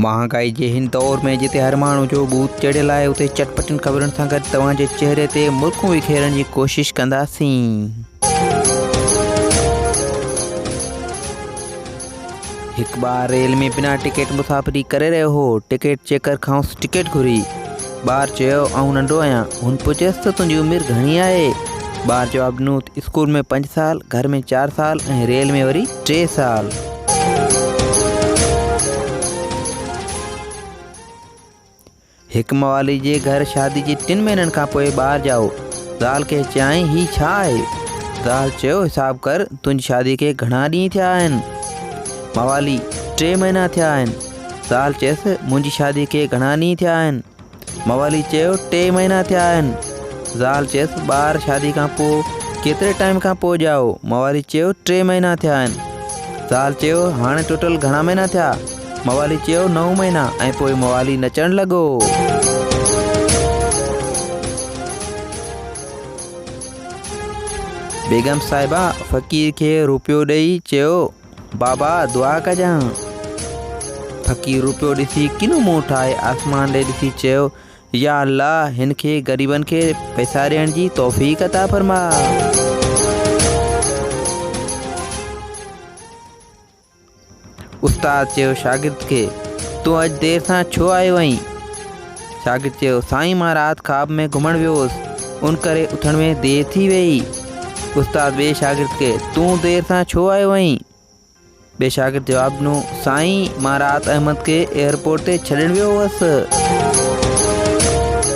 مهانگائي جي هن دور ۾ جتي هر ماڻهو جو ڀوت چڙهيل آهي اتي چٽ پٽين خبرن سان گڏ توهان جي چهري تي مرڪون وکيرڻ جي ڪوشش ڪنداسين. هڪ ٻار ريل ۾ بنا ٽڪيٽ مسافري ڪري رهيو هو ٽڪيٽ چيڪر کانئس ٽڪيٽ گهري ٻار چيو آئون ننڍو آهيان هن پڇيس ته تنهنجي عمر گهڻي آهي ٻار جواب ڏنو ته اسڪول ۾ پنج سال گهر ۾ چار سال ۽ ريل ۾ وري ٽي سال. هڪ موالي جي گهر شادي جي ٽن مهينن کان پوء ٻار ڄائو. زال کي چيائين هي ڇا آهي؟ زال چيو حساب ڪر تنهنجي شادي کي گهڻا ڏينهن ٿيا آهن؟ موالي، ٽي مهينا ٿيا آهن. زال چيس منهنجي شادي کي گهڻا ڏينهن ٿيا آهن؟ موالي چيو ٽي مهينا ٿيا آهن. زال چيس ٻار شادي کان پوء ڪيتري ٽائيم کان پوء ڄائو؟ موالي چيو ٽي مهينا ٿيا آهن. زال چيو هاڻي ٽوٽل گهڻا مهينا ٿيا؟ موالي چيو نو مهينا ۽ پوء موالي نچڻ لڳو. بيگم صاحبه فقير کي روپيو ڏئي چيو. بابا دعا ڪجان. فقير روپيو ڏسي ڪنو منهن ٺاهي آسمان ڏي ڏسي چيو يا الله هن کي غريبن کي پئسا ڏيڻ جي توفيق عطا فرما استاد چيو شاگرد کي تون اڄ دير سان ڇو آيو آهين شاگرد چيو سائين مان رات خواب ۾ گهمڻ ويو هوس ان ڪري اٿڻ ۾ دير ٿي ويئي استاد ٻئي شاگرد کي تون دير سان ڇو آيو آهين ٻئي شاگرد جواب ڏنو سائين مان رات احمد کي ايئرپورٽ تي ڇڏڻ ويو هوس